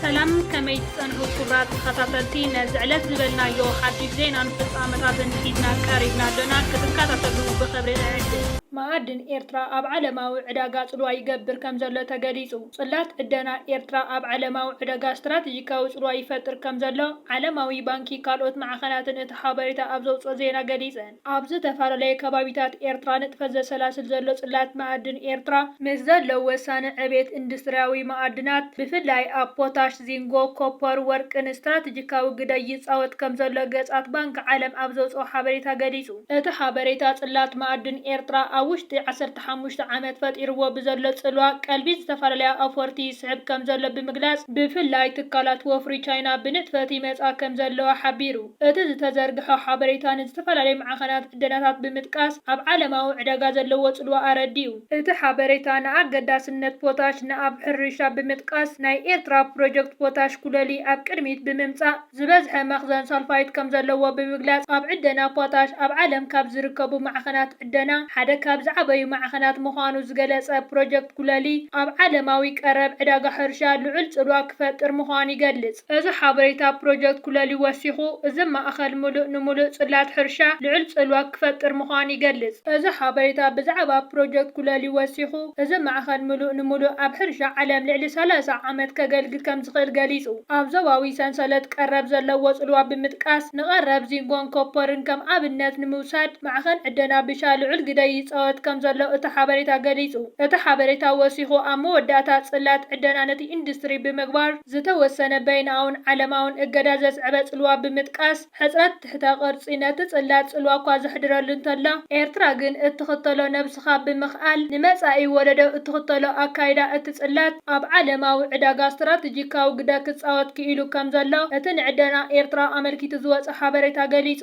ሰላም ከመይ ትጸንሑ ክቡራት ተኸታተልቲ ነዚ ዕለት ዝበልናዮ ሓድሽ ዜናን ፍጻመታትን ሒዝና ቀሪብና ኣሎና ክትከታተሉ ብኽብሪ ንዕድም። መኣድን ኤርትራ ኣብ ዓለማዊ ዕዳጋ ጽልዋ ይገብር ከምዘሎ ተገሊጹ። ጽላት ዕደና ኤርትራ ኣብ ዓለማዊ ዕደጋ ስትራተጂካዊ ጽልዋ ይፈጥር ከምዘሎ ዓለማዊ ባንኪ ካልኦት ማዕኸናትን እቲ ሓበሬታ ኣብ ዘውጽኦ ዜና ገሊጸን። ኣብ ዝተፈላለየ ከባቢታት ኤርትራ ንጥፈት ዘሰላስል ዘሎ ጽላት መኣድን ኤርትራ፣ ምስ ዘሎ ወሳኒ ዕቤት ኢንዱስትርያዊ መኣድናት ብፍላይ ኣብ ፖታሽ፣ ዚንጎ፣ ኮፐር፣ ወርቅን ስትራተጂካዊ ግደ ይጻወት ከምዘሎ ገጻት ባንኪ ዓለም ኣብ ዘውጽኦ ሓበሬታ ገሊጹ። እቲ ሓበሬታ ጽላት መኣድን ኤርትራ ኣብ ውሽጢ ዓሰርተ ንሓሙሽተ ዓመት ፈጢርዎ ብዘሎ ጽልዋ ቀልቢ ዝተፈላለያ ኣውፈርቲ ይስሕብ ከምዘሎ ብምግላጽ፣ ብፍላይ ትካላት ወፍሪ ቻይና ብንጥፈት ይመጻ ከምዘለዋ ሓቢሩ። እቲ ዝተዘርግሐ ሓበሬታ ንዝተፈላለዩ ማዕኸናት ዕደናታት ብምጥቃስ ኣብ ዓለማዊ ዕዳጋ ዘለዎ ጽልዋ ኣረዲኡ። እቲ ሓበሬታ ንኣገዳስነት ፖታሽ ንኣብ ሕርሻ ብምጥቃስ፣ ናይ ኤርትራ ፕሮጀክት ፖታሽ ኩለሊ ኣብ ቅድሚት ብምምጻእ፣ ዝበዝሐ መኽዘን ሳልፋይት ከምዘለዎ ብምግላፅ፣ ኣብ ዕደና ፖታሽ ኣብ ዓለም ካብ ዝርከቡ ማዕኸናት ዕደና ሓደ ካብ ዝዓበዩ ማዕኸናት ምዃኑ ዝገለፀ ፕሮጀክት ጉለሌ፣ ኣብ ዓለማዊ ቀረብ ዕዳጋ ሕርሻ ልዑል ፅልዋ ክፈጥር ምዃኑ ይገልፅ። እዚ ሓበሬታ ፕሮጀክት ጉለሌ ወሲኹ፣ እዚ ማእኸል ሙሉእ ንሙሉእ ፅላት ሕርሻ ልዑል ፅልዋ ክፈጥር ምዃኑ ይገልፅ። እዚ ሓበሬታ ብዛዕባ ፕሮጀክት ጉለሌ ወሲኹ፣ እዚ ማእኸል ምሉእ ንምሉእ ኣብ ሕርሻ ዓለም ልዕሊ ሰላሳ ዓመት ከገልግል ከምዝኽእል ገሊፁ። ኣብ ዞባዊ ሰንሰለት ቀረብ ዘለዎ ፅልዋ ብምጥቃስ ንቀረብ ዚንጎን ኮፐርን ከም ኣብነት ንምውሳድ ማዕኸን ዕደና ብሻ ልዑል ግደ ይፃወት ከምዘሎ እቲ ሓበሬታ ገሊፁ። እቲ ሓበሬታ ወሲኹ ኣብ መወዳእታ ፅላት ዕደና ነቲ ኢንዱስትሪ ብምግባር ዝተወሰነ በይናኣውን ዓለማውን እገዳ ዘስዐበ ፅልዋ ብምጥቃስ፣ ሕጽረት ትሕተ ቅርጺ ነቲ ጽላት ጽልዋ እኳ ዘሕድረሉ እንተሎ፣ ኤርትራ ግን እትኽተሎ ነብስኻ ብምኽኣል ንመጻኢ ወለዶ እትኽተሎ ኣካይዳ እቲ ጽላት ኣብ ዓለማዊ ዕዳጋ ስትራተጂካዊ ግደ ክጻወት ክኢሉ ከም ዘሎ እቲ ንዕደና ኤርትራ ኣመልኪቱ ዝወጸ ሓበሬታ ገሊጹ።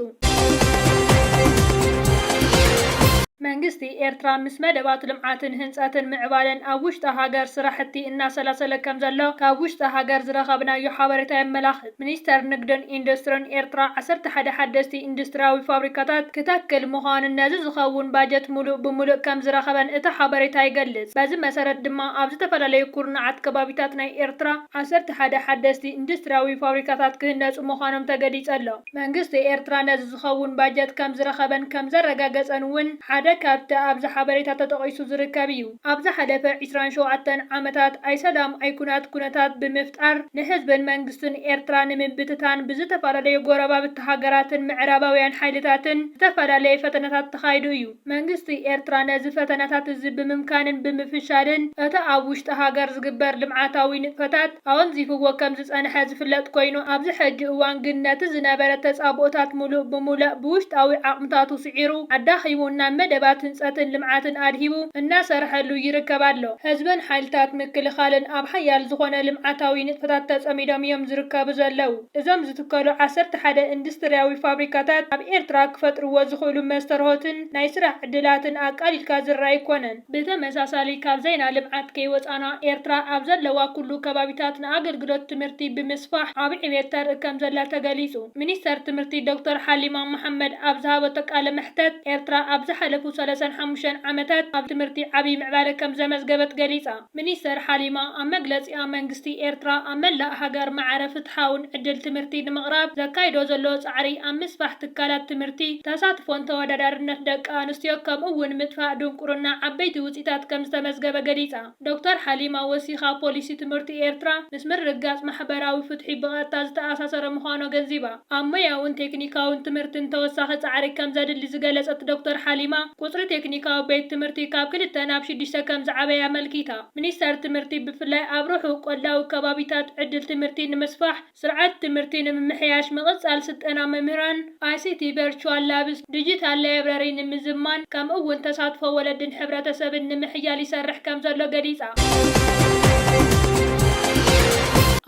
መንግስቲ ኤርትራ ምስ መደባት ልምዓትን ህንጸትን ምዕባለን ኣብ ውሽጢ ሃገር ስራሕቲ እናሰላሰለ ከም ዘሎ ካብ ውሽጢ ሃገር ዝረኸብናዮ ሓበሬታ የመላኽት። ሚኒስተር ንግድን ኢንዱስትርን ኤርትራ ዓሰርተ ሓደ ሓደስቲ ኢንዱስትርያዊ ፋብሪካታት ክተክል ምዃኑን ነዚ ዝኸውን ባጀት ምሉእ ብምሉእ ከምዝረኸበን እቲ ሓበሬታ ይገልጽ። በዚ መሰረት ድማ ኣብ ዝተፈላለዩ ኩርናዓት ከባቢታት ናይ ኤርትራ ዓሰርተ ሓደ ሓደስቲ ኢንዱስትርያዊ ፋብሪካታት ክህነጹ ምዃኖም ተገሊጹ ኣሎ። መንግስቲ ኤርትራ ነዚ ዝኸውን ባጀት ከምዝረኸበን ከምዘረጋገጸን እውን ሓደ ካብቲ ኣብዚ ሓበሬታ ተጠቒሱ ዝርከብ እዩ። ኣብ ዝሓለፈ ዕስራን ሸውዓተን ዓመታት ኣይሰላም ኣይኩናት ኩነታት ብምፍጣር ንህዝብን መንግስትን ኤርትራ ንምብትታን ብዝተፈላለዩ ጎረባብቲ ሃገራትን ምዕራባውያን ሓይልታትን ዝተፈላለየ ፈተነታት ተኻይዱ እዩ። መንግስቲ ኤርትራ ነዚ ፈተነታት እዚ ብምምካንን ብምፍሻልን እቲ ኣብ ውሽጢ ሃገር ዝግበር ልምዓታዊ ንጥፈታት ኣወንዚፍዎ ከም ዝጸንሐ ዝፍለጥ ኮይኑ ኣብዚ ሕጂ እዋን ግን ነቲ ዝነበረ ተጻብኦታት ምሉእ ብሙለእ ብውሽጣዊ ዓቕምታቱ ስዒሩ ኣዳኺሙ ናብ መደባት ህንፀትን ልምዓትን ኣድሂቡ እናሰርሐሉ ይርከብ ኣሎ። ህዝብን ሓይልታት ምክልኻልን ኣብ ሓያል ዝኾነ ልምዓታዊ ንጥፈታት ተፀሚዶም እዮም ዝርከቡ ዘለው። እዞም ዝትከሉ ዓሰርተ ሓደ ኢንዱስትሪያዊ ፋብሪካታት ኣብ ኤርትራ ክፈጥርዎ ዝኽእሉ መስተርሆትን ናይ ስራሕ ዕድላትን ኣቃሊልካ ዝረኣ ኣይኮነን። ብተመሳሳሊ ካብ ዘይና ልምዓት ከይወፃና ኤርትራ ኣብ ዘለዋ ኩሉ ከባቢታት ንኣገልግሎት ትምህርቲ ብምስፋሕ ዓቢ ዕብየት ተርኢ ከምዘላ ተገሊፁ። ሚኒስተር ትምህርቲ ዶክተር ሓሊማ መሓመድ ኣብ ዝሃበቶ ቃለ መሕተት ኤርትራ ኣብ ዝሓለፉ ሰለሳን ሓሙሽተን ዓመታት ኣብ ትምህርቲ ዓብይ ምዕባለ ከምዘመዝገበት ገሊፃ። ሚኒስተር ሓሊማ ኣብ መግለፂኣ መንግስቲ መንግስቲ ኤርትራ ኣብ መላእ ሃገር ማዕረ ፍትሓውን ዕድል ትምህርቲ ንምቕራብ ዘካይዶ ዘሎ ጻዕሪ ኣብ ምስፋሕ ትካላት ትምህርቲ፣ ተሳትፎን ተወዳዳርነት ደቂ ኣንስትዮ ከምኡ'ውን ምጥፋእ ድንቁርና ዓበይቲ ውጽኢታት ከምዝተመዝገበ ገሊጻ። ዶክተር ሓሊማ ወሲኻ ፖሊሲ ትምህርቲ ኤርትራ ምስ ምርግጋጽ ማሕበራዊ ፍትሒ ብቐጥታ ዝተኣሳሰረ ምዃኑ ኣገንዚባ። ኣብ ሞያውን ቴክኒካውን ትምህርትን ተወሳኺ ጻዕሪ ከምዘድሊ ዝገለጸት ዶክተር ሓሊማ፣ ቁጽሪ ቴክኒካዊ ቤት ትምህርቲ ካብ ክልተ ናብ ሽዱሽተ ከምዝዓበየ ኣመልኪታ። ሚኒስተር ትምህርቲ ብፍላይ ኣብ ርሑቕ ቆላዊ ከባቢታት ዕድል ትምህርቲ ንምስፋሕ፣ ስርዓት ትምህርቲ ንምምሕያሽ፣ ምቕጻል ስልጠና መምህራን፣ ICT ቨርቹዋል ላብስ፣ ዲጂታል ላይብረሪ ንምዝማን፣ ከምኡ'ውን ተሳትፎ ወለድን ሕብረተሰብን ንምሕያል ይሰርሕ ከምዘሎ ገሊጻ።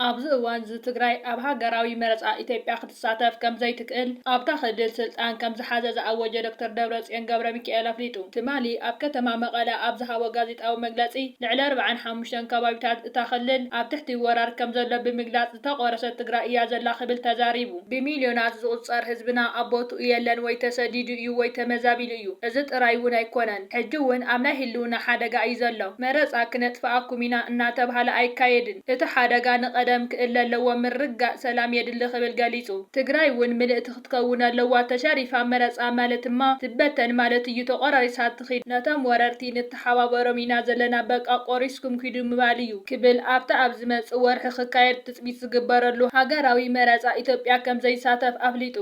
ኣብዚ እዋን'ዚ ትግራይ ኣብ ሃገራዊ መረጻ ኢትዮጵያ ክትሳተፍ ከምዘይትክእል ኣብታ ክልል ስልጣን ከምዝሓዘ ዝኣወጀ ዶክተር ደብረጽዮን ገብረሚካኤል ኣፍሊጡ ትማሊ ኣብ ከተማ መቐለ ኣብ ዝሃቦ ጋዜጣዊ ጋዜጣዊ መግለጺ፣ ልዕሊ ኣርብዓን ሓሙሽተን ከባቢታት እታ ክልል ኣብ ትሕቲ ወራር ከም ዘሎ ብምግላጽ ዝተቖረሰት ትግራይ እያ ዘላ ክብል ተዛሪቡ። ብሚልዮናት ዝቑጸር ህዝብና ኣብ ቦትኡ የለን ወይ ተሰዲዱ እዩ ወይ ተመዛቢሉ እዩ። እዚ ጥራይ እውን ኣይኮነን፣ ሕጂ እውን ኣብ ናይ ህልውና ሓደጋ እዩ ዘሎ። መረጻ ክነጥፍኣኩም ኢና እናተብሃለ ኣይካየድን። እቲ ሓደጋ ንቐደም ክእለ ኣለዎ፣ ምርግጋእ ሰላም የድሊ ክብል ገሊጹ። ትግራይ እውን ምልእቲ ክትከውን ኣለዋ ተሸሪፋ መረጻ ማለት ድማ ትበተን ማለት እዩ ተቆራሪሳ ትኺድ ነቶም ወረርቲ ንተሓባበሮም ኢና ዘለና በቃ ቆሪስኩም ኪዱ ምባል እዩ ክብል ኣብቲ ኣብ ዝመጽእ ወርሒ ክካየድ ትጽቢት ዝግበረሉ ሃገራዊ መረጻ ኢትዮጵያ ከምዘይሳተፍ ኣፍሊጡ።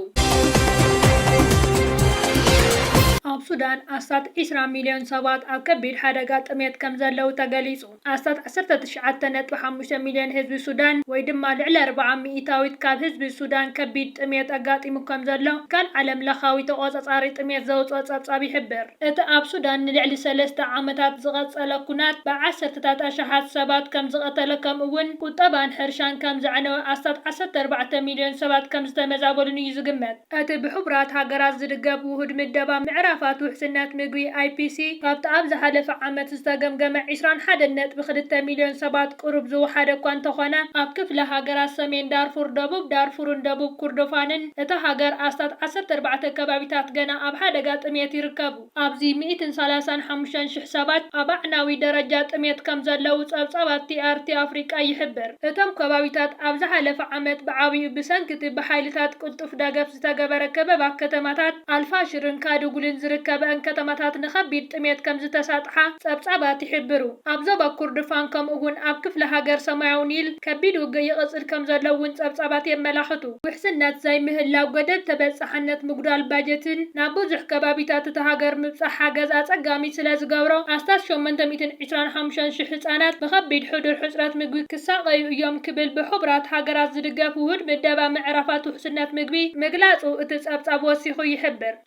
ኣብ ሱዳን ኣስታት ዕስራ ሚልዮን ሰባት ኣብ ከቢድ ሓደጋ ጥምየት ከምዘለዉ ተገሊጹ። ኣስታት ዓሰርተ ትሽዓተ ነጥቢ ሓሙሽተ ሚልዮን ህዝቢ ሱዳን ወይ ድማ ልዕሊ ኣርብዓ ሚኢታዊት ካብ ህዝቢ ሱዳን ከቢድ ጥምየት ኣጋጢሙ ከምዘሎ ትካል ዓለምለኻዊ ተቖጻጻሪ ጥምየት ዘውጽኦ ጸብጻብ ይሕብር። እቲ ኣብ ሱዳን ንልዕሊ ሰለስተ ዓመታት ዝቐጸለ ኩናት ብዓሰርተታት ኣሽሓት ሰባት ከምዝቐተለ ከምኡ'ውን ቁጠባን ሕርሻን ከምዘዕነወ ኣስታት ዓሰርተ ኣርባዕተ ሚልዮን ሰባት ከምዝተመዛበሉን እዩ ዝግመት። እቲ ብሕቡራት ሃገራት ዝድገፍ ውሁድ ምደባ ምዕራፋት ውሕስነት ምግቢ፣ IPC፣ ካብቲ ኣብ ዝሓለፈ ዓመት ዝተገምገመ ዕስራን ሓደን ነጥቢ ክልተ ሚልዮን ሰባት ቅሩብ ዝወሓደ እኳ እንተኾነ፣ ኣብ ክፍለ ሃገራት ሰሜን ዳርፉር፣ ደቡብ ዳርፉርን ደቡብ ኩርዶፋንን እታ ሃገር ኣስታት ዓሰርተ ኣርባዕተ ከባቢታት ገና ኣብ ሓደጋ ጥምየት ይርከቡ። ኣብዚ ሚእትን ሰላሳን ሓሙሽተን ሽሕ ሰባት ኣብ ኣዕናዊ ደረጃ ጥሜት ከም ዘለዉ ጸብጻብ ኣቲኣርቲ ኣፍሪቃ ይሕብር። እቶም ከባቢታት ኣብ ዝሓለፈ ዓመት ብዓቢኡ ብሰንኪ'ቲ ብሓይልታት ቅልጡፍ ደገፍ ዝተገበረ ከበባ ከተማታት ኣልፋሽርን ካዱጉልን ዝርከበኣን ከተማታት ንኸቢድ ጥሜት ከም ዝተሳጥሓ ጸብጻባት ይሕብሩ። ኣብ ዞባ ኩርድፋን ከምኡ'ውን ኣብ ክፍለ ሃገር ሰማያዊ ኒል ከቢድ ውግእ ይቕጽል ከም ዘሎ'ውን ጸብጻባት የመላኽቱ። ውሕስነት ዘይምህላው፣ ገደብ ተበፃሕነት፣ ምጉዳል ባጀትን ናብ ብዙሕ ከባቢታት እታ ሃገር ምብፃሕ ሓገዝ ኣፀጋሚ ስለዝገብሮ ኣስታት ሸሞንተ ሚእትን ዕስራን ሓሙሽተን ሽሕ ህፃናት ብኸቢድ ሕዱር ሕፅረት ምግቢ ክሳቐዩ እዮም ክብል ብሕቡራት ሃገራት ዝድገፍ ውሁድ ምደባ ምዕራፋት ውሕስነት ምግቢ ምግላፁ እቲ ፀብፃብ ወሲኹ ይሕብር።